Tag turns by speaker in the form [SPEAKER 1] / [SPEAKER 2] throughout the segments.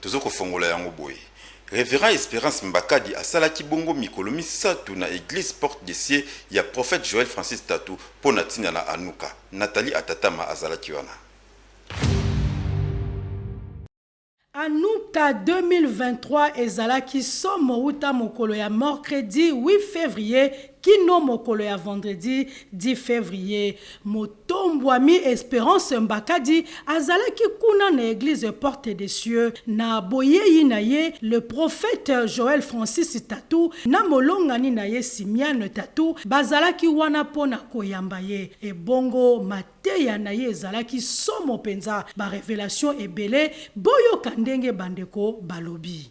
[SPEAKER 1] Tozo kofongola yango boye. Reverend Esperance Mbakadi asalaki bongo mikolo misato na eglise Porte de Cieux ya Prophète Joël Francis Tatu mpo na ntina na Hanukkah. Nathalie Atatama azalaki wana.
[SPEAKER 2] Hanukkah 2023 ezalaki somo uta mokolo ya morcredi 8 fevrier kino mokolo ya vendredi 10 fevrier. Tombwami Esperance Mbakadi azalaki kuna na eglise Porte de Cieux na boyeyi na ye le prophète Joël Francis Tatu na molongani na ye Simiane Tatu bazalaki wana mpo na koyamba ye. Ebongo mateya na ye ezalaki somo mpenza, ba revelations ebele, boyoka ndenge bandeko balobi.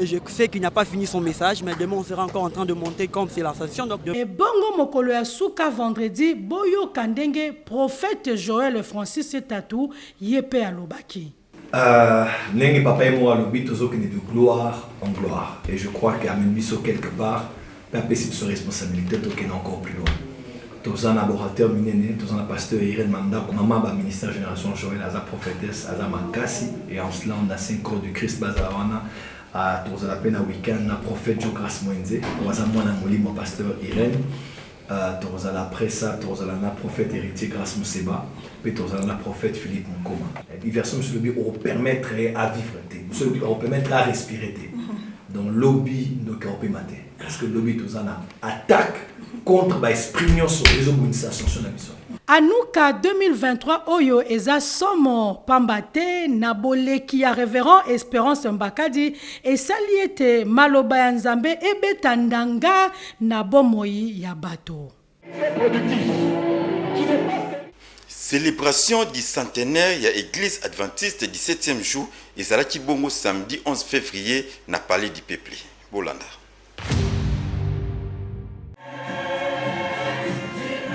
[SPEAKER 3] Et je sais qu'il n'a pas fini son message, mais demain on sera encore en train de monter comme c'est la station. Donc de... ebongo
[SPEAKER 2] mokolo ya suka vendredi boyoka ndenge prophète joel francis etatu ye mpe alobaki Euh,
[SPEAKER 4] ndenge papa ye moko alobi tozokende de gloire en gloire et je crois que amemi biso quelque part Pe apesi biso responsabilite tokende encore plus loin. Toza na ba orateur minene, toza na pasteur Irene Mandaku, maman ba ministère generation Joël aza prophetesse, aza makasi et en cela on a saint croix du Christ bazala wana. Ah, tokozala pe na week-end na prophète Joe Grace Mwenze, oyo aza mwana ya molimo pasteur Irene. Ah, tokozala après ça, tokozala na prophète Heritier Grace Museba. Pe tozala na prophete Philippe Mukoma eh, version mosusu elobi oko permettre ye a vivre te, mosusu elobi oko permettre ye a respirer te. Donc lobi ndoki akopema te parce que lobi toza na attaque contre ba esprits nionso ezo bundisa ascension na biso. Anuka 2023
[SPEAKER 2] oyo eza somo pamba te na boleki ya Reverend Esperance Mbakadi esali ete maloba ya Nzambe ebeta ndanga na bomoi ya bato.
[SPEAKER 1] Celebration du centenaire ya eglise adventiste du 7e jour ezalaki bongo samedi 11 fevrier na palais du peuple. Bolanda.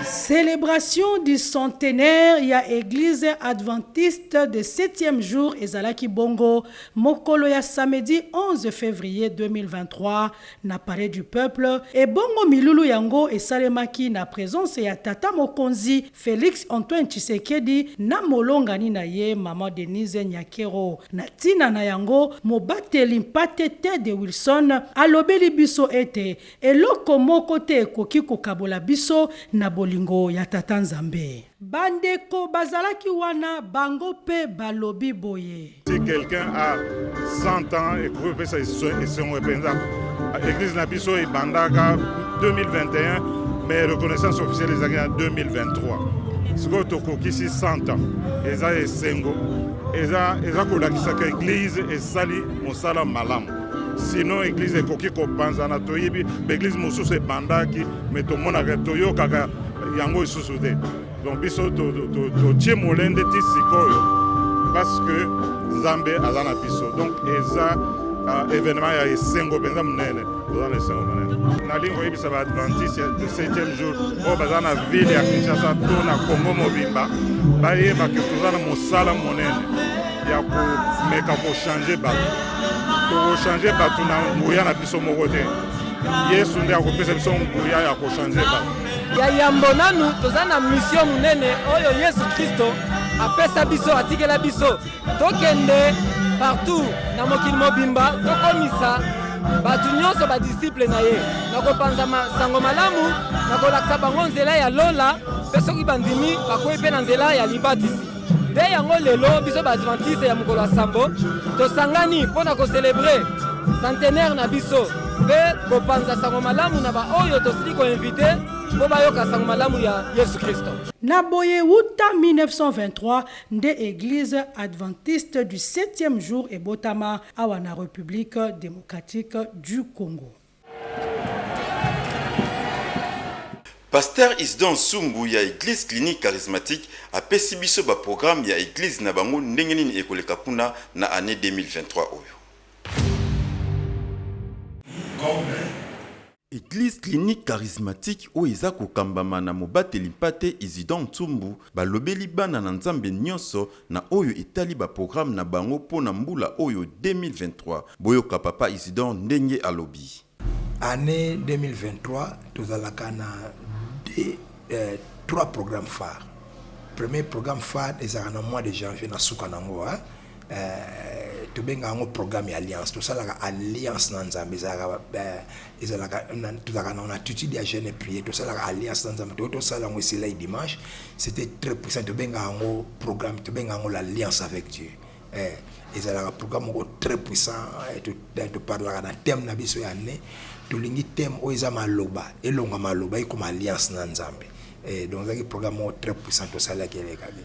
[SPEAKER 2] Celebration du centenaire ya eglise adventiste de 7e jour ezalaki bongo mokolo ya samedi 11 fevrier 2023 na Palais du peuple, ebongo milulu yango esalemaki na presence ya tata mokonzi Felix Antoine Tshisekedi na molongani na ye maman Denise Nyakero. Na tina na yango, mobateli mpate Ted Wilson alobeli biso ete eloko moko te ekoki kokabola biso na bolingo ya Tata Nzambe. Bandeko bazalaki wana bango mpe balobi boye. Si quelqu'un a
[SPEAKER 5] 100 ans et que pesa esongo penza église na biso ebandaka 2021 mais reconnaissance officielle ezalaki en 2023 sikoyo tokokisi 100 ans eza esengo eza, eza kolakisaka église esali mosala malamu sinon église ekoki kopanzana toyebi baeglise mosusu ebandaki mais tomonaka toyokaka yango lisusu te donc biso totie molende ti sikoyo parce que nzambe aza na biso donc eza uh, événement ya esengo mpenza monene toza na esengo monene nalingi koyebisa baadventiste de 7e jour oyo baza na ville ya kinshasa to na congo mobimba bayeba ke toza na mosala monene ya komeka kochange bato tokochange bato na nguya na biso moko te yesu nde akopesa biso nguya ya kochange bato Ya yambo
[SPEAKER 6] nanu toza na misio monene oyo Yesu Kristo apesa biso, atikela biso tokende partout na mokili mobimba tokomisa bato nyonso badisiple na ye na kopanza sango malamu na kolakisa bango nzela ya lola mpe soki bandimi bakwei mpe na nzela ya libatisi. Mpe yango lelo biso baadventiste ya mokolo ya sambo tosangani mpo na koselebre centenaire na biso mpe kopanza sango malamu na baoyo tosili koinvite mpo bayoka sango malamu ya yesu kristo na boye
[SPEAKER 2] uta 1923 nde eglise adventiste du 7e jour ebotama awa na république démocratique du congo
[SPEAKER 1] Pasteur Isidore Nsungu ya Eglise Clinique Charismatique apesi biso ba programmes ya Eglise na bango ndenge nini ekoleka kuna na annee 2023 oyo. Eglise Clinique Charismatique oyo eza kokambama na mobateli mpate Isidore Nsumbu balobeli bana na Nzambe nionso na oyo etali ba programmes na bango mpo na mbula oyo 2023. Boyoka Papa Isidore ndenge alobi. Annee 2023,
[SPEAKER 7] tozalaka na trois programmes phares. Premier programme phare ezalaka na mois de janvier, na suka na yango, tobengaka yango programme ya alliance. Tosalaka alliance na Nzambe, ezalaka ezalaka tozalaka na attitude ya jeune prier tosalaka alliance na nzambe toyo tosala yango esilai dimanche c'était très puissant tobengaka yango programme tobengaka yango l'alliance avec dieu eh, ezalaka programme moko très puissant eh, eh, toparlaka na thème na biso ya année tolingi thème oyo eza maloba elonga maloba ekoma alliance na nzambe eh, donc ezalaki programme moko très puissant tosalaki elekaki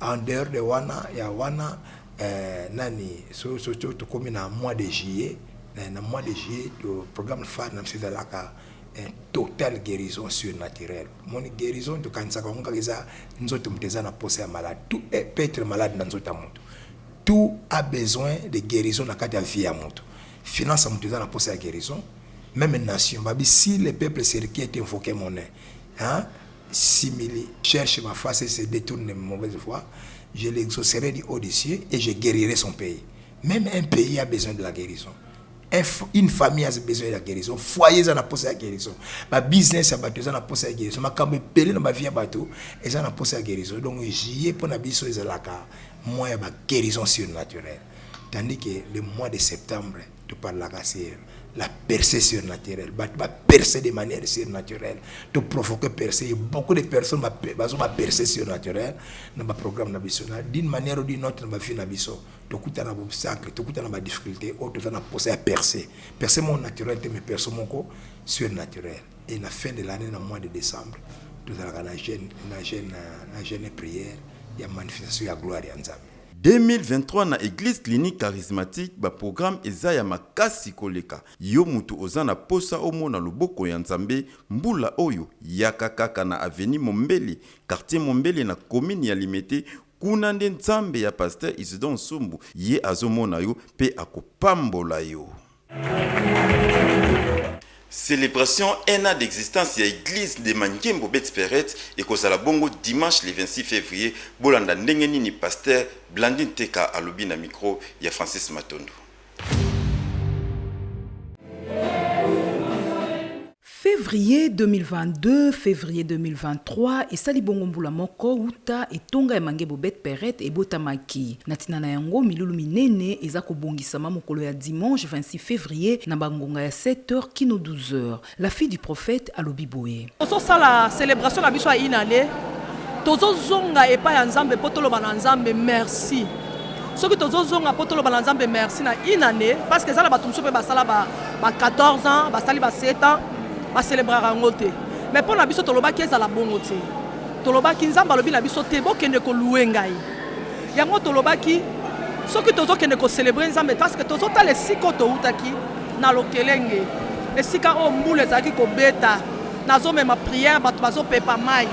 [SPEAKER 7] en dehors de wana ya wana eh, nani so, so, so tokomi na mois de juillet eh, na mois de juillet to programme phare na biso ezalaka eh, total guérison surnaturelle moni guérison tokanisaka yango kaka eza nzoto moto eza na posa ya malade tout eh, peut être malade na nzoto ya moto tout a besoin de guérison na kati ya vie ya moto finance ya moto eza na posa ya guérison même nation babi si le peuple serki est invoqué mon hein? simili cherche ma face et se detourne de mauvaise voie, je l'exaucerai du haut des cieux et je guerirai son pays. Meme un pays a besoin de la guerison. Une famille a besoin de la guerison. Foyer eza na posa ya guerison. Ba business ya bato eza na posa ya guerison. Makambo ebele na ba vie ya bato eza na posa ya guerison. Donc juillet pona biso ezalaka mois ya ba guerison surnaturelle. Tandis que le mois de septembre To parlaka sur la percee surnaturelle, batu ba percer de manière surnaturelle, to provoquer percee, beaucoup de personnes ba bazo ba percee surnaturelle na ba programme na biso na d'une manière ou d'une autre na ba vie na biso to kutana na ba obstacle, to kutana na ba difficultes oyo toza na posa ya percee. Percee moko naturelle te mais percee moko surnaturelle et na fin de l'annee na mois de decembre tozalaka na jeune na jeune na jeune prière ya manifestation ya gloire ya Nzambe. 2023 na
[SPEAKER 1] eglise clinique charismatique ba programme eza ya makasi koleka yo mutu oza na posa omona loboko ya nzambe mbula oyo yaka kaka na avenue mombele quartier mombele na commune ya limete kuna nde nzambe ya pasteur isidore nsumbu ye azomona yo pe akopambola yo. Celebration un an d'existence ya eglise de Mangembo Betsperet ekozala bongo dimanche le 26 fevrier. Bolanda ndenge nini pasteur Blandine Teka alobi na micro ya Francis Matondo.
[SPEAKER 8] Fevrier 2022 Fevrier 2023 Esali bongo mbula moko uta etonga ya Mangembo Bet Peret ebotamaki. Na tina na yango, milulu minene eza kobongisama mokolo ya dimanche 26 fevrier na ba ngonga ya 7 heures kino 12 heures. La fille du prophète alobi boye. Tozo sala
[SPEAKER 9] celebration na biso ya une annee, tozo zonga epai ya Nzambe po toloba na Nzambe merci. soki tozozonga mpo toloba na nzambe merci na une année parce que eza na bato mosusu mpe basala ba 14 ans basali ba 7 ans bacelebraka yango te mais mpo na biso tolobaki ezala bongo te tolobaki nzambe alobi na biso te bokende kolue ngai yango tolobaki soki tozokende kocelebre nzambe parce que tozotala esika oyo toutaki na lokelenge esika oyo mbula ezalaki kobeta nazomema priere bato bazopepa mai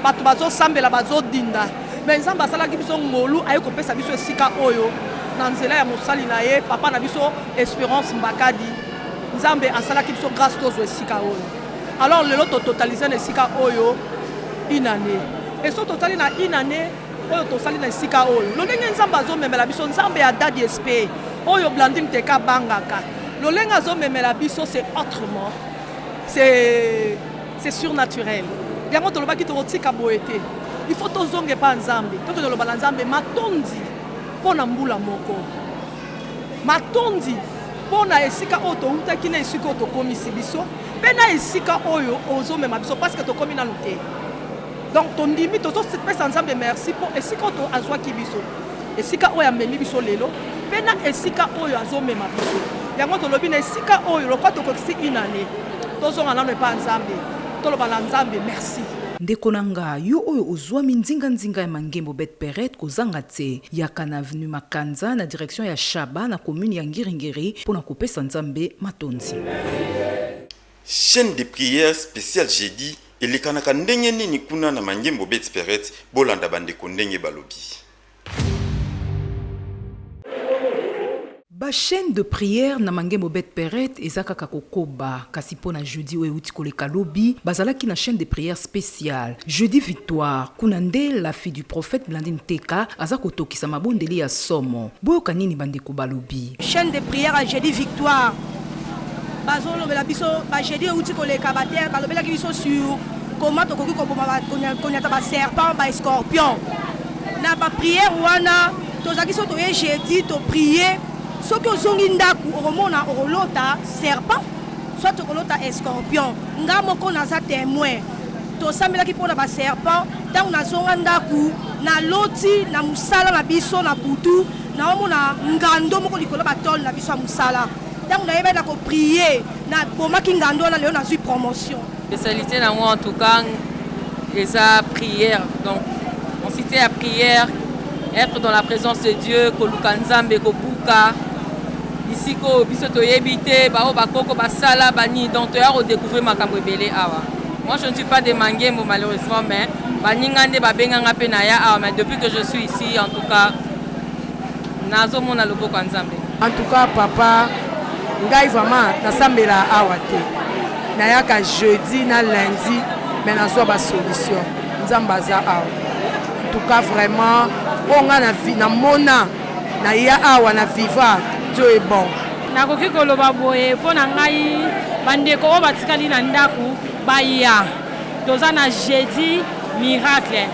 [SPEAKER 9] bato bazosambela bazodinda Mais Nzambe asalaki biso ngolu aye kopesa biso esika oyo na nzela ya mosali na ye papa na biso Esperance Mbakadi. Nzambe asalaki biso grâce tozwa esika oyo. Alors lelo to totaliser na esika oyo une année. Et so totali na une année oyo tosali na esika oyo lolenge nzambe azomemela biso nzambe ya dadi espe oyo blandine teka abangaka lolenge azomemela biso c'est autrement c'est C'est surnaturel. Yango tolobaki tokotika boye te. Il faut tozonga epai ya Nzambe. Tokende koloba na Nzambe matondi mpo na mbula moko. Matondi mpo na esika oyo toutaki na esika oyo tokomisi biso mpe na esika oyo ozomema biso parce que tokomi nanu te. donc tondimi tozopesa nzambe merci mpo esika oyo azwaki biso esika oyo amemi biso lelo mpe na esika oyo azomema biso yango tolobi na esika oyo lokola tokokisi une année tozonga nano epa nzambe toloba na nzambe merci ndeko na nga
[SPEAKER 8] yo oyo ozwami nzinganzinga ya mangembo bet peret kozanga te yaka na avenue makanza na direction ya shaba na commune ya ngiringiri mpo na kopesa nzambe matondi
[SPEAKER 1] Chaine de prière special jeudi elekanaka ndenge nini kuna na mangembo bets perets bolanda ba ndeko ndenge balobi.
[SPEAKER 8] Ba chaine de prière na mangembo bets perets eza kaka kokoba kasi pona jeudi oyo ewuti koleka lobi bazalaki na chaine de prière special jeudi victoire kuna nde la fille du prophète Blandine Teka aza kotokisa mabondeli ya somo boyoka nini ba ndeko balobi. Chaine de prière ya
[SPEAKER 10] jeudi victoire Bazo lobela biso ba jeudi euti koleka ba terre balobelaki biso sur comment tokoki koboma ba- konya- konyata ba serpent ba escorpion na ba prière wana tozalaki so toye jeudi to prier soki ozongi ndako okomona okolota serpent soit okolota escorpion nga moko naza témoin tosambelaki mpo na ba serpent ntango nazonga ndako naloti na mosala na biso na butu naomona ngando moko likolo ya batole na biso ya mosala Tango na yeba na ko prier na bomaki ngando wana lelo nazui promotion. Spécialité na ngo
[SPEAKER 11] en tout cas eza prière donc on cité ya prière être dans la présence de Dieu koluka Nzambe kobuka bisika oyo biso toyebi te baoyo bakoko basala banini donc toya kodécouvrir makambo ebele awa moi je ne suis pas de mangembo malheureusement mais baninga nde babenganga mpe naya awa mais depuis que je suis ici en tout cas Nazo mona loboko ya nzambe. En tout cas papa
[SPEAKER 12] ngai vraiment nasambela awa te nayaka jeudi na lundi mais nazwa ba solution nzambe aza awa en tout cas vraiment oyo ngai na vie namona naya awa na viva dieu est bon nakoki koloba
[SPEAKER 13] boye mpo na ngai bandeko oyo batikali na ndako baya toza na jeudi miracle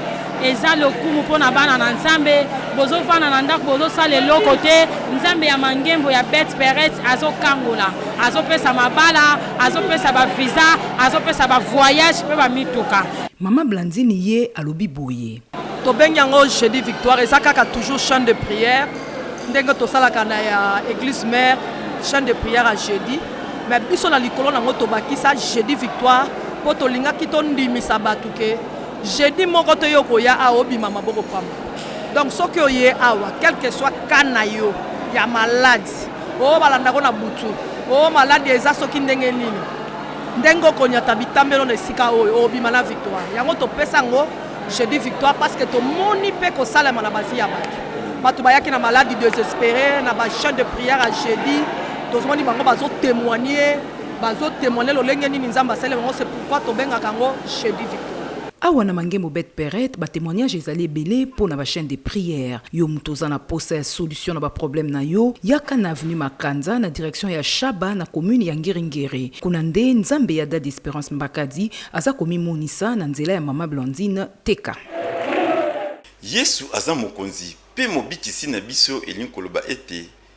[SPEAKER 13] eza lokumu mpo na bana na nzambe bozofanda na ndako bozosala eloko te nzambe ya mangembo ya bet peret azokangola azopesa mabala azopesa bavisa azopesa bavoyage mpe bamituka mama blandine
[SPEAKER 8] ye alobi boye tobengi yango
[SPEAKER 9] jeudi victoire eza kaka toujours chaine de prière ndenge tosalaka na ya église mare chaine de prière ya jeudi mais biso na likolo nango tobakisa jeudi victoire mpo tolingaki tondimisa bato ke Jeudi moko to yo koya awa obima maboko pamba. Donc soki oye awa quelque soit cas na yo ya malade oyo balanda ko na butu oyo malade eza soki ndenge nini ndenge okonyata bitambelo na esika oyo obima na victoire yango topesa yango jeudi victoire parce que tomoni mpe kosalema na bavi ya bato bato bayaki na maladi désespéré na bachaine de prière ya jeudi tozomoni bango bazotémoigne Bazo temoigner lolenge nini Nzambe asali bango c'est pourquoi tobengaka yango jeudi victoire. Awa na Mangembo Bet
[SPEAKER 8] Peret ba temoignages ezali ebele mpo na ba chaines de prière. Yo mutu oza na posa ya solution na ba problèmes na yo, yaka na avenue Makanza na direction ya Shaba na commune ya Ngiri Ngiri. Kuna nde Nzambe ya Dady Esperance Mbakadi aza komimonisa na nzela ya mama Blandine Teka.
[SPEAKER 1] Yesu aza Mokonzi mpe Mobikisi na biso, elingi koloba ete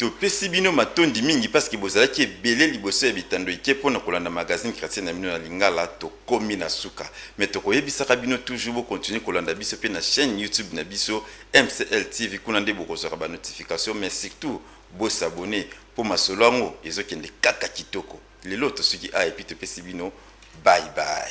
[SPEAKER 1] Topesi bino matondi mingi parce que bozalaki ebele liboso ya bitando ike mpo na kolanda magazine chretien na bino na lingala. Tokomi na suka, mais tokoyebisaka bino toujours bo continuer kolanda biso mpe na chaine YouTube na biso MCL TV, kuna nde bokozwaka ba notifications, mais surtout bo s'abonner mpo masolo yango ezokende kaka kitoko. Lelo tosuki awa et puis topesi bino bye bye.